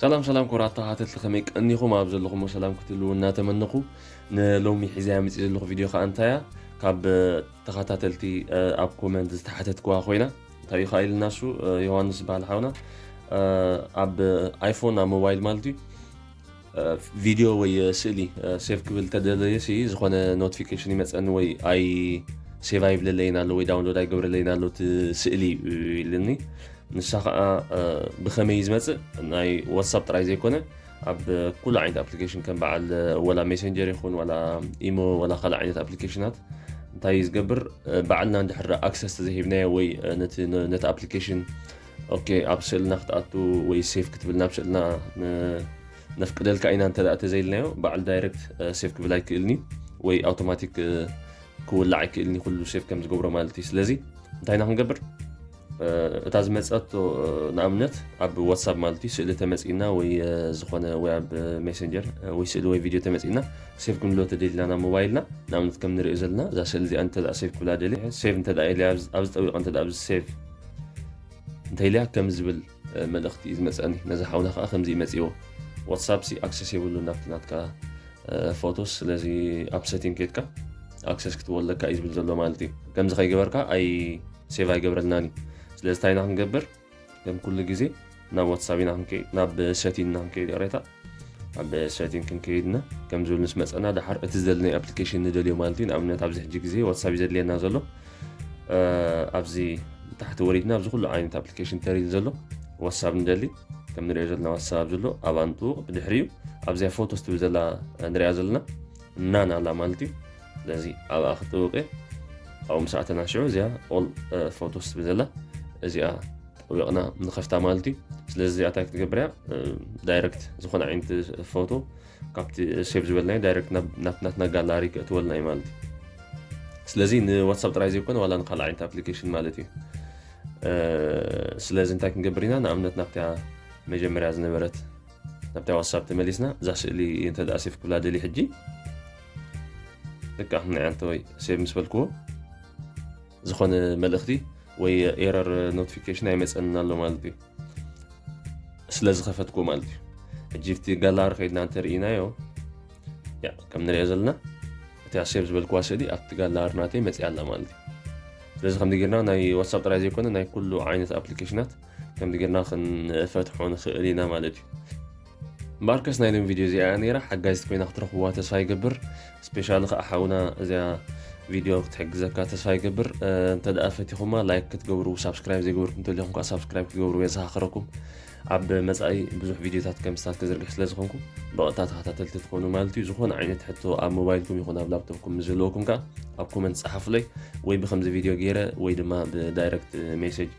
ሰላም ሰላም ኩቡራት ተኸታተልቲ ከመይ ቀኒኹም ኣብ ዘለኹሞ ሰላም ክትህልው እናተመነኹ ንሎሚ ሒዘያ መፅእ ዘለኹ ቪድዮ ከዓ እንታያ ካብ ተኸታተልቲ ኣብ ኮመንት ዝተሓተትክዋ ኮይና እንታይ እዩ ኢልና እሱ ዮሃንስ ዝበሃል ሓውና ኣብ ኣይፎን ኣብ ሞባይል ማለት እዩ ቪድዮ ወይ ስእሊ ሴቭ ክብል ተደለየ ሲ ዝኾነ ኖቲፊኬሽን ይመፀኒ ወይ ኣይ ሴቭ ኣይብለለይን ኣሎ ወይ ዳውንሎድ ኣይገብረለይን ኣሎ እቲ ስእሊ ኢልኒ ንሳ ከዓ ብከመይ ዝመፅእ ናይ ዋትሳፕ ጥራይ ዘይኮነ ኣብ ኩሉ ዓይነት ኣፕሊኬሽን ከም በዓል ወላ ሜሴንጀር ይኹን ዋላ ኢሞ ዋላ ካልእ ዓይነት ኣፕሊኬሽናት እንታይ ዝገብር በዓልና እንድሕር ኣክሰስ ተዘሂብናዮ ወይ ነቲ ኣፕሊኬሽን ኦኬ ኣብ ስእልና ክትኣቱ ወይ ሴፍ ክትብል ናብ ስእልና ነፍቅደልካ ኢና እንተ ተዘይልናዮ በዓል ዳይረክት ሴፍ ክብል ኣይክእልን እዩ ወይ ኣውቶማቲክ ክውላዕ ኣይክእልን እዩ ኩሉ ሴፍ ከም ዝገብሮ ማለት እዩ ስለዚ እንታይ ኢና ክንገብር እታ ዝመፀቶ ንኣብነት ኣብ ዋትሳፕ ማለት እዩ ስእሊ ተመፂና ወይ ዝኾነ ወይ ኣብ ሜሴንጀር ወይ ስእሊ ወይ ቪድዮ ተመፂና ሴቭ ክንብሎ ተደሊና ናብ ሞባይልና ንኣብነት ከም ንሪኦ ዘለና እዛ ስእሊ እዚኣ እንተ ሴቭ ክብላ ደልየ ሴቭ እንተ ኢለ ኣብዚ ጠዊቐ እንተ ኣብዚ ሴቭ እንታይ ኢልያ ከም ዝብል መልእኽቲ እዩ ዝመፀኒ ነዚ ሓውና ከዓ ከምዚ መፅዎ ዋትሳፕ ሲ ኣክሰስ የብሉ ናብቲ ናትካ ፎቶስ ስለዚ ኣብ ሰቲንግ ኬድካ ኣክሰስ ክትወለካ እዩ ዝብል ዘሎ ማለት እዩ ከምዚ ከይገበርካ ኣይ ሴቭ ኣይገብረልናን እዩ ስለዚ እንታይ ኢና ክንገብር ከም ኩሉ ግዜ ናብ ዋትሳብ ኢና ክንከይድ ናብ ሰቲን ኢና ክንከይድ ይቕሬታ ኣብ ሰቲን ክንከይድ ኢና ከም ዝብል ምስ መፀና ድሓር እቲ ዝደለናዮ ኣፕሊኬሽን ንደልዮ ማለት እዩ ንኣብነት ኣብዚ ሕጂ ግዜ ዋትሳብ እዩ ዘድልየና ዘሎ ኣብዚ ብታሕቲ ወሪድና ኣብዚ ኩሉ ዓይነት ኣፕሊኬሽን ተሪል ዘሎ ዋትሳብ ንደሊ ከም ንሪኦ ዘለና ዋትሳብ ዘሎ ኣብ ኣንጥውቕ ብድሕሪኡ ኣብዚያ ፎቶ ስትብል ዘላ ንሪኣ ዘለና ናን ኣላ ማለት እዩ ስለዚ ኣብኣ ክጥውቅ እየ ኣብኡ ምስ ኣተና ሽዑ እዚኣ ኦል ፎቶ ስትብል ዘላ እዚኣ ወቂቅና ንከፍታ ማለት እዩ ስለዚ እዚኣ እንታይ ክትገብር እያ ዳይረክት ዝኾነ ዓይነት ፎቶ ካብቲ ሴቭ ዝበልናዮ ዳይረክት ናብ ናትና ጋላሪ ክእትወልና እዩ ማለት እዩ ስለዚ ንዋትሳፕ ጥራይ ዘይኮነ ዋላ ንካልእ ዓይነት ኣፕሊኬሽን ማለት እዩ ስለዚ እንታይ ክንገብር ኢና ንኣብነት ናብታ መጀመርያ ዝነበረት ናብታ ዋትሳፕ ተመሊስና እዛ ስእሊ እንተ ሴፍ ክብላ ደሊ ሕጂ ልክዕ ንዕንተወይ ሴቭ ምስ በልክዎ ዝኾነ መልእኽቲ ወይ ኤረር ኖቲፊኬሽን ኣይመፀንን ኣሎ ማለት እዩ ስለ ዝኸፈትኩ ማለት እዩ ሕጂ ብቲ ጋላሪ ከይድና እንተርኢናዮ ከም ንሪኦ ዘለና እቲ ኣሴብ ዝበልክዋ ስእሊ ኣብቲ ጋላሪ ናተይ መፅያ ኣላ ማለት እዩ ስለዚ ከምዚ ጌርና ናይ ዋትሳፕ ጥራይ ዘይኮነ ናይ ኩሉ ዓይነት ኣፕሊኬሽናት ከምዚ ጌርና ክንፈትሖ ንኽእል ኢና ማለት እዩ ማርከስ ናይ ሎም ቪድዮ እዚኣ ነይራ ሓጋዚት ኮይና ክትረኽብዋ ተስፋ ይገብር ስፔሻሊ ከዓ ሓውና እዚኣ ቪድዮ ክትሕግዘካ ተስፋ ይገብር እንተ ደኣ ፈቲኹማ ላይክ ክትገብሩ ሳብስክራይብ ዘይገበርኩም ተሊኹም ከዓ ሳብስክራይብ ክትገብሩ የዘኻኽረኩም ኣብ መፃኢ ብዙሕ ቪድዮታት ከም ስታት ከዝርግሕ ስለ ዝኾንኩ ብቐጥታ ተኸታተልቲ ትኾኑ ማለት እዩ ዝኾነ ዓይነት ሕቶ ኣብ ሞባይልኩም ይኹን ኣብ ላፕቶፕኩም ምስ ዘለወኩም ከዓ ኣብ ኮመንት ፀሓፉለይ ወይ ብከምዚ ቪድዮ ገይረ ወይ ድማ ብዳይረክት ሜሴጅ